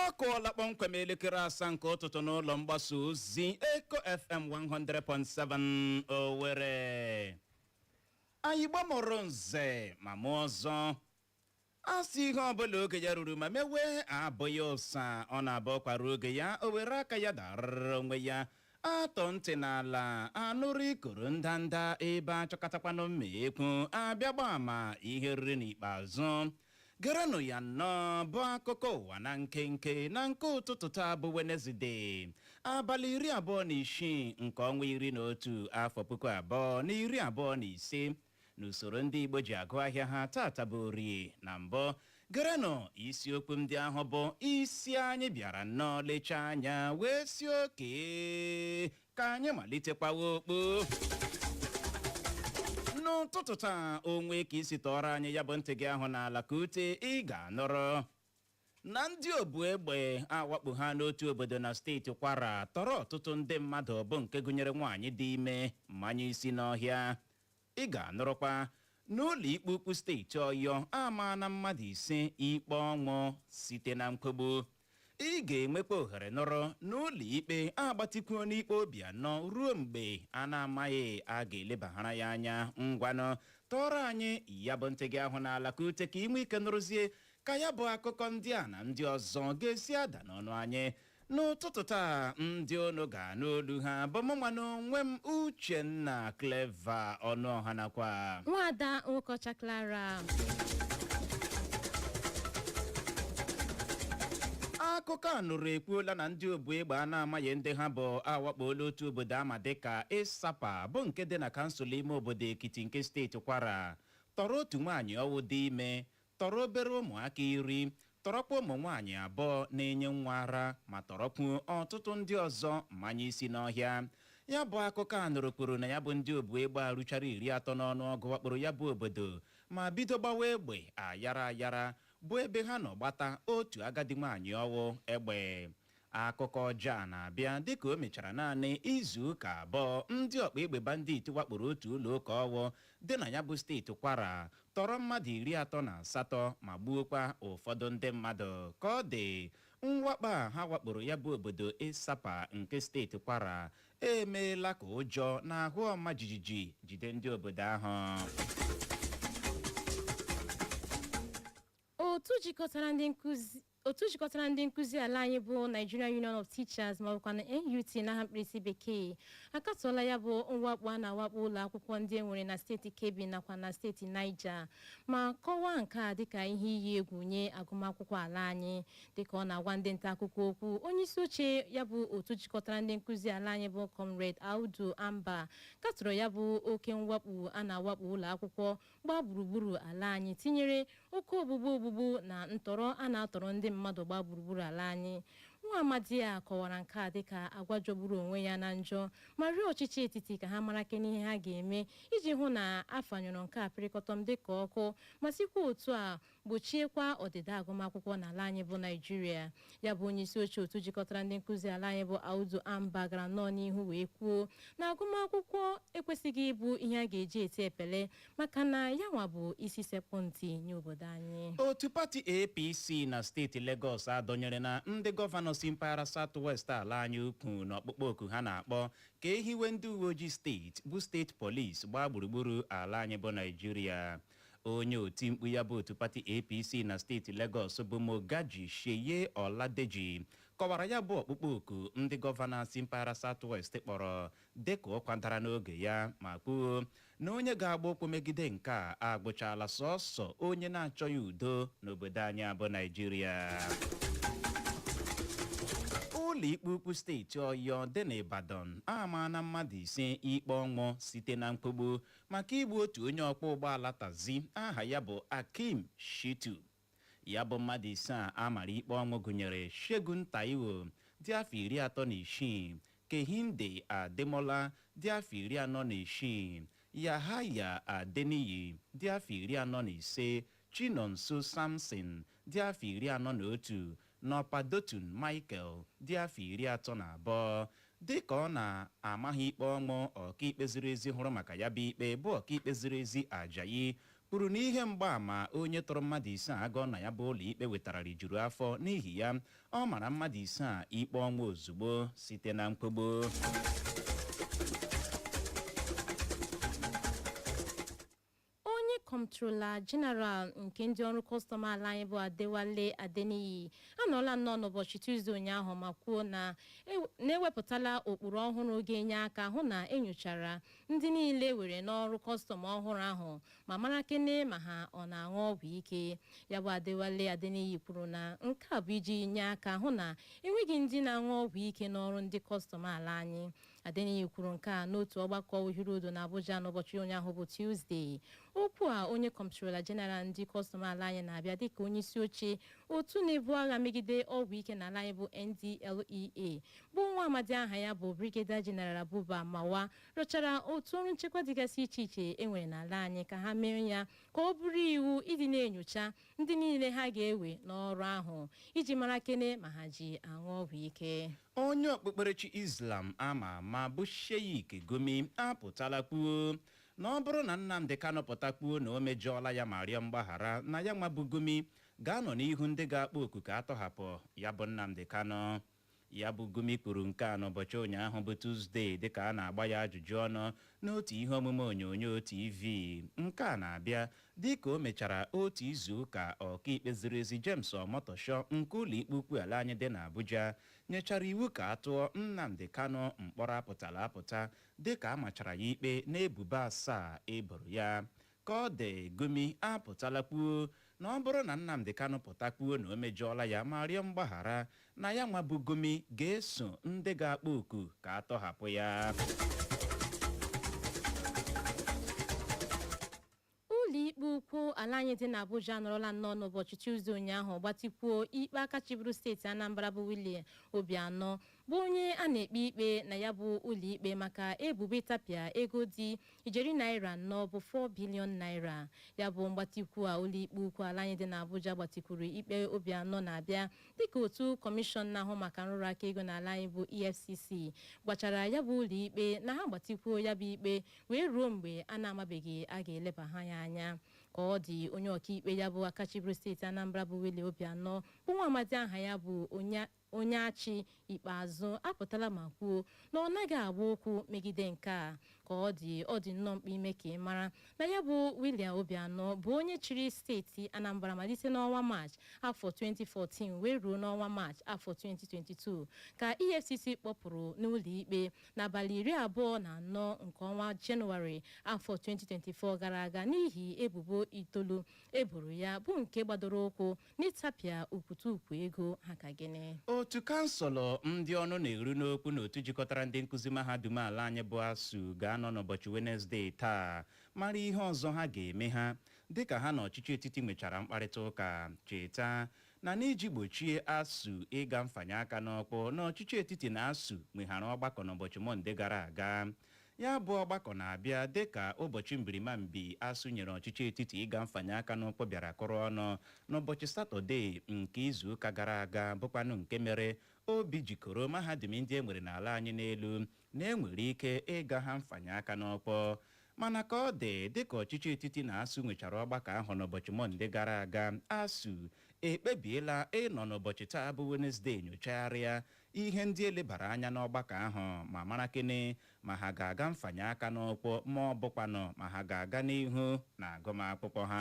ọ kụọla kpọmkwem elekere asaa nke ụtụtụ n'ụlọ mgbasa ozi Eko FM 100.7 Owerri anyị Igbo mụrụ nze ma mụọ ọzọ a sị ihe ọbụla oge ya ruru ma mewe abụghị ụsa ọ na-abụ ụkwa ruo oge ya o were aka ya darara onwe ya a tọọ ntị n'ala a nụrụ ikoro ndanda ebe a chọkatakwanụ mma ekwu a bịa gbaa ama ihe e riri n'ikpeazụ gerenụ ya nnọọ bụ akụkọ ụwa na nkenke na nke ụtụtụ taa bụ wenezide abalị iri abụọ na isii nke ọnwa iri na otu afọ puku abụọ na iri abụọ na ise n'usoro ndị Igbo ji agụ ahịa ha taata bụ orie na mbụ gerenụ isiokwu ndị ahụ bụ isi anyị bịara nnọọ lechaa anya wee sị okay ka anyị malite kwawa okpu n'ụtụtụ taa o nwee ka i si tọọrọ anyị ya bụ ntị gị ahụ n'ala ka ute ị ga-anụrụ na ndị obu egbe awakpoana otu obodo na steeti kwara tọrọ ọtụtụ ndị mmadụ bụ nke gụnyere nwaanyị dị ime manye isi n'ọhịa ị ga-anụrụkwa na ụlọ ikpe ukwu steeti ọyọ amaana mmadụ ise ikpe ọnwụ site na nkwugbu ị ga-enwekwa ohere nụrụ na ụlọ ikpe agbatịkwuona ikpe obiano ruo mgbe a na-amaghị a ga-elebaghara ya anya ngwanụ tọọrọ anyị ya bụ ntị gị ahụ n'ala ka ute ka i nwee ike nụrụzie ka ya bụ akụkọ ndị a na ndị ọzọ ga-esi ada n'ọnụ anyị n'ụtụtụ taa ndị unu ga-anụ olu ha bụ mụnwa n'onwe m uchenna clever ọnụọha nakwa nwada nwokocha clara akụkọ a nụrụ ekwuola na ndị obu egbe a na-amaghị ndị ha bụ awakpola otu obodo a ma dịka ịsapa bụ nke dị na kansụl ime obodo ekiti nke steeti kwara tọrọ otu nwaanyị ọwụ dị ime tọrọ obere ụmụaka iri, tọrọkwa ụmụ nwaanyị abụọ na-enye nwa ara ma tọrọkwu ọtụtụ ndị ọzọ manye isi n'ọhịa. Ya bụ akụkọ a nụrụ kwuru na ya bụ ndị obu egbe a ruchara iri atọ n'ọnụọgụ wakporo ya bụ obodo ma bido gbawa egbe ayara ayara bụ ebe ha nọ gbata otu agadi nwaanyị ọwụ egbe. Akụkọ ọjọọ a na-abịa dịka o mechara naanị izu ụka abụọ ndị ọkpa egbe banditi wakporo otu ụlọụka ọwụ dị na ya bụ steeti Kwara tọrọ mmadụ iri atọ na asatọ ma gbuokwa ụfọdụ ndị mmadụ. Ka ọ dị, mwakpo a ha wakporo ya bụ obodo Isapa nke steeti Kwara emeela ka ụjọ na ahụ ọma jijiji jide ndị obodo ahụ. Otu jikọtara ndị nkụzi ala anyị bụ Nigerian Union of Teachers ma bụkwa na NUT n'aha mkpirisi bekee akatọọla ya bụ mwakpo a na-awakpo ụlọ akwụkwọ ndị e nwere na steeti Kebbi nakwa na steeti Niger ma kọwaa nke a dịka ihe iyi egwu nye agụmakwụkwọ ala anyị dịka ọ na-agwa ndị nta akụkọ okwu onye isi oche ya bụ otu jikọtara ndị nkụzi ala anyị bụ Comrade Audu Amba katọrọ ya bụ oke mwakpo a na-awakpo ụlọ akwụkwọ gbaa gburugburu ala anyị tinyere oke ogbugbu ogbugbu na ntọrọ a na-atọrọ ndị mmadụ gbaa gburugburu ala anyị nwa amadi a kọwara nke a dịka agwa jọgburu onwe ya na njọ ma rịọ ọchịchị etiti ka ha mara kene ihe ha ga-eme iji hụ na afanyụrụ nke a pịrịkọtọm dịka ọkụ ma sikwa otu a gbochiekwa ọdịda agụmakwụkwọ n'ala anyị bụ naijiria ya bụ onye isi oche otu jikọtara ndị nkụzi ala anyị bụ audu amba gara nnọọ n'ihu wee kwuo na agụmakwụkwọ ekwesịghị ịbụ ihe a ga-eji eti epele maka na ya nwa bụ isi sekpụ ntị nye obodo anyị otu pati apc na steeti legọs adọnyerena ndị gọvanọ si mpaghara south west ala anyị ukwu n'ọkpụkpọ oku ha na-akpọ ka e hiwe ndị uwe ojii steeti bụ steeti polis gbaa gburugburu ala anyị bụ naijiria onye oti mkpu ya bụ otu pati APC na steeti Lagos bụ Mogaji Seye Oladeji kọwara ya bụ ọkpụkpọ oku ndị gọvanọ si mpaghara South West kpọrọ dịka ụkwa dara n'oge ya ma kwuo na onye ga-agba ụkwụ megide nke a agbụchala sọsọ onye na-achọghị udo n'obodo anyị a bụ Naijiria ụlọikpe ukwu steeti ọyọ dị n'Ibadan amaana mmadụ ise ikpe ọnwụ site na nkwụgbu maka igbu otu onye ọkwọ ụgbọala taxi aha ya bụ Akeem Shitu. Ya bụ mmadụ ise a a mara ikpe ọnwụ gụnyere Segun Taiwo dị afọ iri atọ na isii, Kehinde Ademola dị afọ iri anọ na isii, Yahaya Adeniyi dị afọ iri anọ na ise, Chinonso Samson dị afọ iri anọ na otu Na Ọpadotun Michael dị afọ iri atọ na abụọ dịka ọ na-ama ha ikpe ọnwụ, ọkaikpe ziri ezi hụrụ maka ya bụ ikpe bụ ọkaikpe ziri ezi Ajayi kwuru na ihe mgbaama onye tụrụ mmadụ ise a agọọ na ya bụ ụlọikpe wetara rijuru afọ, n'ihi ya, ọ mara mmadụ ise a ikpe ọnwụ ozugbo site na nkwụgbu. Onye Kọmptrola Jeneral nke ndị ọrụ kọstọm ala anyị bụ Adewale Adeniyi anọọla nnọọ n'ụbọchị Tuzde ụnyaahụ ma kwuo na na ewepụtala ụkpụrụ ọhụrụ ga-enye aka hụ na enyochara ndị niile e were n'ọrụ kọstọm ọhụrụ ahụ ma mara kene ma ha ọ na-aṅụ ọgwụ ike. Ya bụ Adewale Adeniyi kwuru na nke a bụ iji nye aka hụ na enweghị ndị na-aṅụ ọgwụ ike n'ọrụ ndị kọstọm ala anyị. Adeniyi kwuru nke a n'otu ọgbakọ uhiri udo na Abuja n'ụbọchị ụnyaahụ bụ Tuzdee. Okwu a onye kọmptrola jeneral ndị kọstọm ala anyị na-abịa dịka onye isi oche otu na-ebu agha megide ọgwụ ike n'ala anyị bụ NDLEA bụ nwa amadi aha ya bụ Brigadier General Buba Marwa rịọchara otu ọrụ nchekwa dịgasị iche iche e nwere n'ala anyị ka ha mee ya ka ọ bụrụ iwu ịdị na-enyocha ndị niile ha ga-ewe n'ọrụ ahụ iji mara kene ma ha ji aṅụ ọgwụ ike onye okpukperechi islam ama ama bụ sheikh gumi apụtala kwuo na ọ bụrụ na nnamdi kanu pụta kwuo na o mejọọla ya ma rịọ mgbaghara na ya nwa bụ gumi ga-anọ n'ihu ndị ga-akpọ oku ka a tọhapụ ya bụ nnamdi kanu Ya bụ Gumi kwuru nke a n'ụbọchị ụnyaahụ bụ Tuzdee dịka a na-agba ya ajụjụ ọnụ n'otu ihe omume onyonyo TV. Nke a na-abịa dịka o mechara otu izuụka ọkaikpe ziri ezi James Omotosho nke ụlọikpe ukwu ala anyị dị n'Abuja nyechara iwu ka a tụọ Nnamdi Kanu mkpọrọ apụtala apụta dịka a machara ya ikpe n'ebubo asaa e boro ya. Ka ọ dị, Gumi apụtala kwuo na ọ bụrụ na Nnamdi Kanu pụta kwuo na o mejọọla ya ma rịọ mgbaghara, na yanwa bụ Gumi ga-eso ndị ga-akpọ oku ka a tọhapụ ya. Ụlọikpe ukwu ala anyị dị n'Abuja anọrọla nnọọ n'ụbọchị Tuzdee ụnyaahụ gbatikwuo ikpe aka chịburu steeti Anambra bụ Willie Obianọ bụ onye a na-ekpe ikpe na ya bụ ụlọikpe maka ebubo ịtapịa ego dị ijeri naira anọ bụ 4 bilion naira ya bụ mgbatikwu a ụlọikpe ukwu ala anyị dị n'Abuja gbatikwuru ikpe Obianọ na-abịa dịka otu kọmishọn na-ahụ maka nrụrụ aka ego n'ala anyị bụ EFCC gwachara ya bụ ụlọikpe na ha gbatikwuo ya bụ ikpe wee ruo mgbe a na-amabeghị a ga-eleba ha ya anya ka ọ dị onye ọkaikpe ya bụ aka chịburu steeti Anambra bụ Willie Obianọ bụ nwa amadi aha ya bụ Onyechi Ikpeazụ apụtala ma kwuo na ọ naghị agba ụkwụ megide nke a. Ka ọ dị, ọ dị nnọọ mkpa ime ka ị mara na ya bụ Willie Obianọ bụ onye chịrị steeti Anambra malite n'ọnwa Maachị afọ 2014 wee ruo n'ọnwa Maachị afọ 2022 ka EFCC kpọpụrụ n'ụlọikpe n'abalị iri abụọ na anọ nke ọnwa Jenụwarị afọ 2024 gara aga n'ihi ebubo itoolu e boro ya bụ nke gbadoro ụkwụ n'ịtapịa okwute ukwu ego ha ka gịnị otu kansụlụ ndị ọnụ na-eru n'okwu n'otu jikọtara ndị nkụzi mahadum ala anyị bụ asuu ga-anọ n'ụbọchị wenezdee taa mara ihe ọzọ ha ga-eme ha dịka ha na ọchịchị etiti nwechara mkparịta ụka cheta na n'iji gbochie asuu ịga mfanye aka n'ọkpọ na ọchịchị etiti na asuu nweghara ọgbakọ n'ụbọchị mọnde gara aga Ya bụ ọgbakọ na-abịa dịka ụbọchị mbirimambi ASUU nyere ọchịchị etiti ịga mfanye aka n'ụkwụ bịara kụrụ ọnụ n'ụbọchị Satọde nke izuụka gara aga bụkwanụ nke mere obi ji koro mahadum ndị e nwere n'ala anyị n'elu na e nwere ike ịga ha mfanye aka n'ụkwụ. Mana ka ọ dị, dịka ọchịchị etiti na ASUU nwechara ọgbakọ ahụ n'ụbọchị Mọnde gara aga, ASUU ekpebiela ịnọ n'ụbọchị taa bụ Wenesde nyochagharịa ihe ndị e lebara anya n'ọgbakọ ahụ ma mara kene ma ha ga-aga mfanye aka n'ụkwụ ma ọ bụkwanụ ma ha ga-aga n'ihu na agụmakwụkwọ ha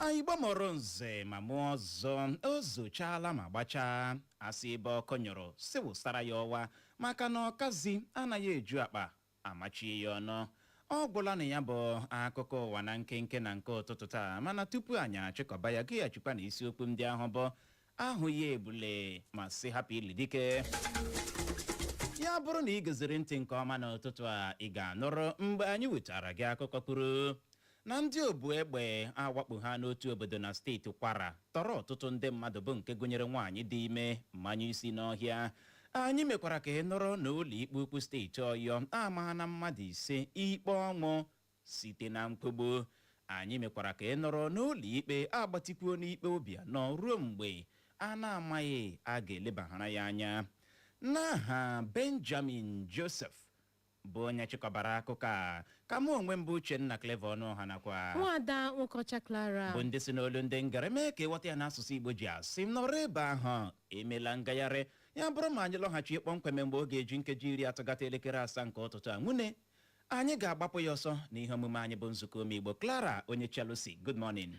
anyị Igbo mụrụ nze ma mụọ ọzọ o zochaala ma gbachaa a sị ebe ọkụ nyụrụ sị wụsara ya ọwa maka na ọkazi anaghị eju akpa amachie ya ọnụ. Ọ gwụla na ya bụ akụkọ ụwa na nkenke na nke ụtụtụ taa, mana tupu anyị achịkọba ya, geghachikwa na isiokwu ndị ahụ bụ ahụghị ebule ma sị hapụ ili dike. Ya bụrụ na ị geziri ntị nke ọma n'ụtụtụ a, ị ga-anụrụ mgbe anyị wetara gị akụkọ kwuru na ndị obu egbe awakpoola otu obodo na steeti Kwara tọrọ ọtụtụ ndị mmadụ bụ nke gụnyere nwaanyị dị ime manye isi n'ọhịa. Anyị mekwara ka ị nụrụ na ụlọikpe ukwu steeti Ọyọ amaala mmadụ ise ikpe ọnwụ site na nkwụgbu. Anyị mekwara ka ị nụrụ na ụlọikpe agbatikwuola ikpe Obianọ ruo mgbe a na-amaghị a ga-elebara ya anya. N'aha Benjamin Joseph bụ onye chịkọbara akụkọ a ka mụ onwe m bụ Uchenna Clever Ọnụọha nakwa nwaada Nwokeọcha Clara bụ ndị si n'olu ndị ngere mee ka ị ghọta ya n'asụsụ Igbo ji asị m nọrọ ebe ahụ emela ngagharị ya bụrụ ma anyị lọghachi kpọmkwem mgbe ọ ga-eji nkeji iri atọ gata elekere asaa nke ụtụtụ a nwune anyị ga-agbapụ ya ọsọ na ihe omume anyị bụ nzukọ ụmụ Igbo Clara onye Chelsea good morning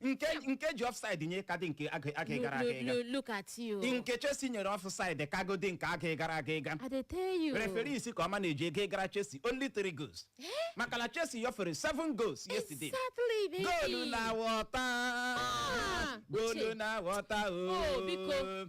nke nke ji offside nye kadị nke aga gara aga ịga Look, look at you. nke Chelsea nyere offside ka goal dị nke aga gara aga ịga I dey tell you. referee si ka ọma na-eji ego gara Chelsea only three goals maka na Chelsea nyefere seven goals yesterday Exactly, baby. goal na water Ah, goal Uche. na water Oh, biko. o